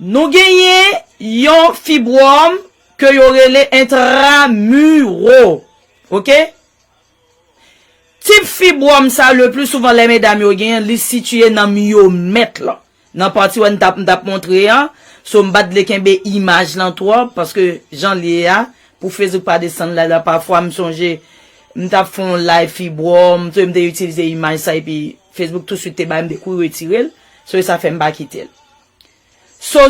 Nou genyen yon fibwòm ke yo rele entramuro. Ok. Tip fibwòm sa le pli souvan lè medam yo genyen l, li sitiye nan miyomèt lan. Nan pati wè n ta m ta p montre an. So m pat vle kenbe imaj lan twòp paske jan l ye a pou Facebook pa desann live la pafwa m sonje m ta p fè yon live fibwòm, m te itilize imaj sa epi. Facebook tou swit te bay m de kou retire l, so e sa fè m pa kite l. So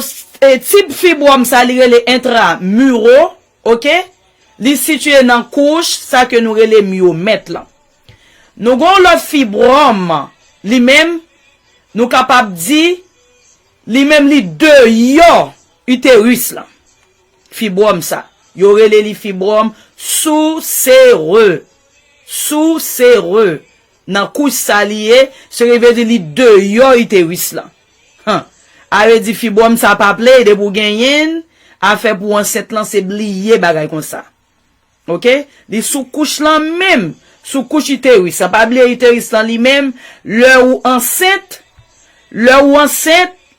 e tib fibwòm sa li rele entra muro ok, li sitiye nan kouch sa ke nou rele myomèt lan. Nou gon w lòt fibwòm li menm nou kapab di li menm li deyò iteris lan. Fibwòm sa yo rele li fibwòm sou sere, sou sere. Nan kouch sa li ye, se ke vle di li deyò uterus lan. Huh. Are di fibwòm sa pa play depi ou genyenn, afè pou ansent lan se bliye bagay konsa. Ok. Li sou kouch lan menm, sou kouch uterus lan. Pa bliye uterus lan li menm, lè ou ansent, lè ou ansent,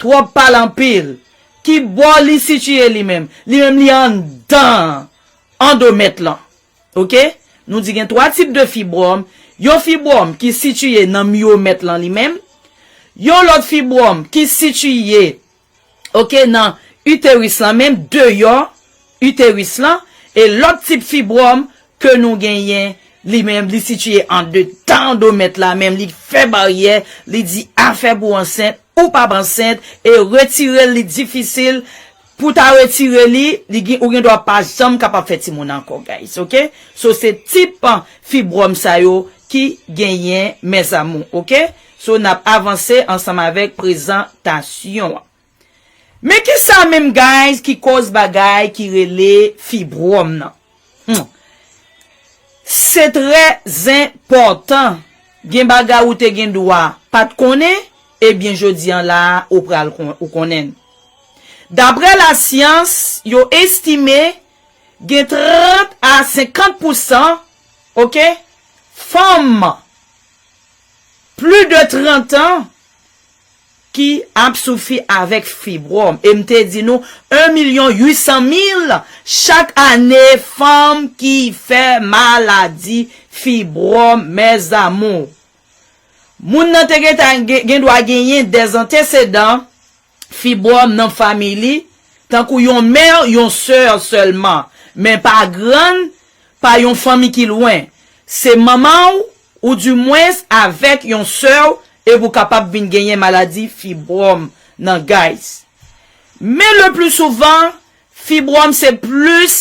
Trop pale anpil. Ki bò li sitiye li menm? Li menm li anndan andomèt lan. Ok. Nou di gen 3 tip de fibwòm, yon fibwòm ki sitiye nan myomèt lan li menm, yon lòt fibwòm ki sitiye ok nan iteris lan menm deyò uterus lan e lòt tip fibwòm ke nou genyen li menm li sitiye andedan andomèt la menm li fè baryè li di afè pou ansent ou pap ansent e retirel li difisil pou ta retire li li gin ou gen dwa pa janm kapab fè timoun ankò guys ok so se tip fibwòm sa yo ki genyen mes amour ok so nap avanse ansanm avèk prezantasyon an. Men kisa menm guys ki koz bagay ki rele fibrom nan humm se trè zen pò tan gen bagay ou te gen dwa pat konnen ebyen jodi an la ou pral ou konnen l daprè la syans yo estime gen 30 a 50 pou san ok fanm pli de 30 an ki ap soufri avèk fibwòm e m te di nou 1 milyon 800 mil chak ane fanm ki fè maladi fibwòm mèzamou moun nan te gen dwa genyen dè antesedan fibwòm nan fanmi li tankou yon mè yon sè sèlman men pa grann pa yon fanmi ki lwen, se manman w ou di mwens avèk yon sè w epi w kapab vin genyen maladi fibwòm nan guys. Men le pli souvan fibwòm se plis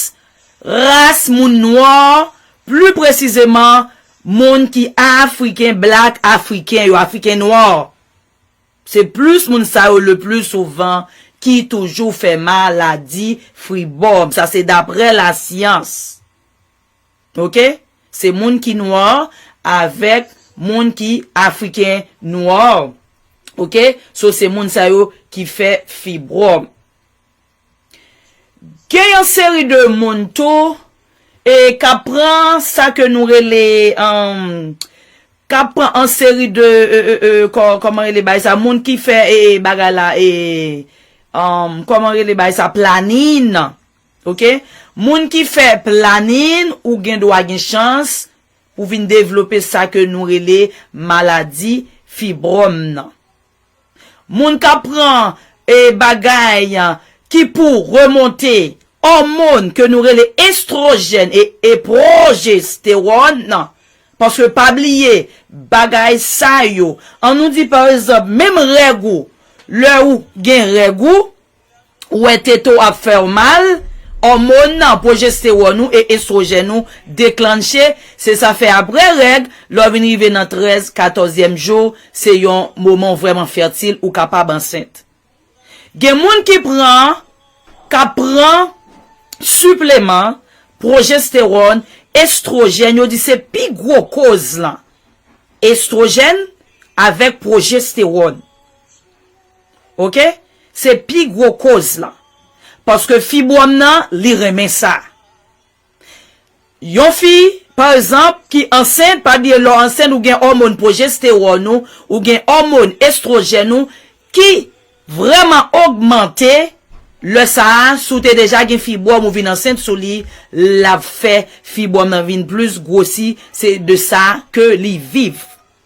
ras moun nwò pli presizeman moun ki afriken black afriken yo afriken nwò. Se plis moun sa yo le pli souvan ki toujou fè ma la di fri bòm. Sa se daprè la syans. Ok? Se moun ki nwa avèk moun ki afriken nwa. Ok? So se moun sa yo ki fè fi bòm. Gen yon seri de moun tou e kap pran sa ke nou rele umm kap pran an seri de ee kòman rele bagay sa moun ki fè e bagay la e umm kòman rele bagay sa planin ok moun ki fè planin ou gen dwa gen chans pou vin devlope sa ke nou rele maladi fibròm nan. Moun kap pran e bagay ki pou remonte òmon ke nou rele estrojèn e e pwojestewòn nan paske pa bliye bagay sa yo an nou di pa egzanp menm règ ou lè ou gen règ ou Ou wè tete w ap fè w mal, òmon nan, pwojestewòn ou e estwojèn ou deklanche, se sa fè aprè règ, lè w vin rive nan 13, 14 zyèm jou, se yon moman w vrèman fètil, ou kapab ansent. Gen moun ki pran, k ap pran, sipleman, pwojestewòn, estwojèn, yo di se pi gwo koz lan. Estwojèn avèk pwojestewòn. ok se pi gwo koz lan paske fibwòm nan li renmen sa yon fi pa egzanp ki ansent pa bliye lè w ansent ou gen òmòn pwojestewòn ou ou gen òmòn estwojèn ou ki vrèman ogmante lè sa a si w te deja gen fibwòm ou vin ansent sou li l ap fè fibwòm nan vin plis gwosi se de sa ke li viv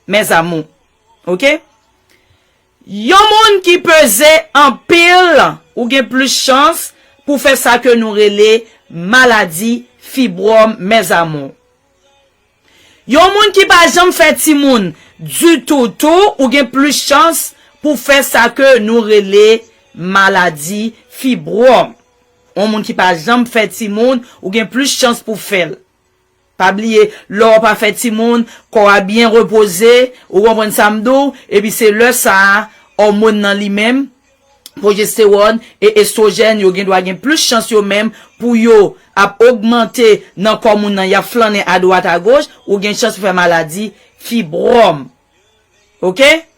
mes amours ok. Yon moun ki peze anpil ou gen plis chans pou fè sa ke nou rele maladi fibwòm mes amours. Yon moun ki pa janm fè timoun ditou tou ou gen plis chans pou fè sa ke nou rele maladi fibwòm. Yon moun ki pa janm fè timoun ou gen plis chans pou fèl. Pa bliye, lè w pa fè timoun, kò a byen repoze, ou konprann sa m di w, epi se lè sa a, òmòn nan li menm, pwojestewòn e estwojèn yo gendwa gen plis chans yo menm pou yo ap ogmante nan kò moun nan, y ap flannen adwat agoch, ou gen chans pou fè maladi fibròm. Ok?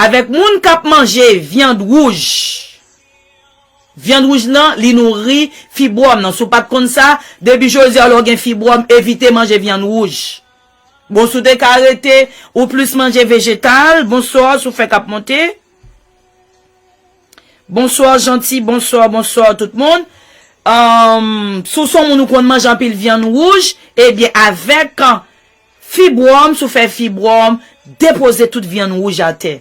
Avèk moun k ap manje vyand wouj. Vyand wouj lan li nouri fibwòm nan. Si w pa t konn sa, depi jodi a lè w gen fibwòm evite manje vyand wouj. Bon si w te ka rete ou plis manje vejetal. Bonsoir sou fè k ap monte. Bonsoir Jeanty bonsoir bonsoir tout moun. Si w s on moun ou konn manje anpil vyand wouj ebyen avèk Fibwòm si w fè fibwòm depoze tout vyann wouj atè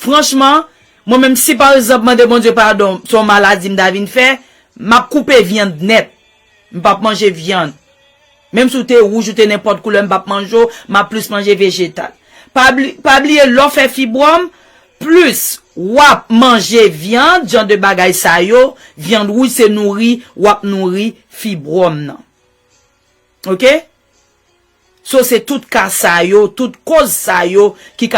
franchman mwen menm si pa egzanp mande Bondye padon se yon maladi m ta vin fè m ap koupe vyann nèt m pap manje vyann menm si w te wouj ou te nenpòt koulè m pap manje w m ap plis manje vejetal pa bliye lè w fè fibwòm plis w ap manje vyand jan de bagay sa yo vyand wouj se nouri w ap nouri fibwòm nan. Ok. So se tout ka sa yo, tout koz sa yo ki ka.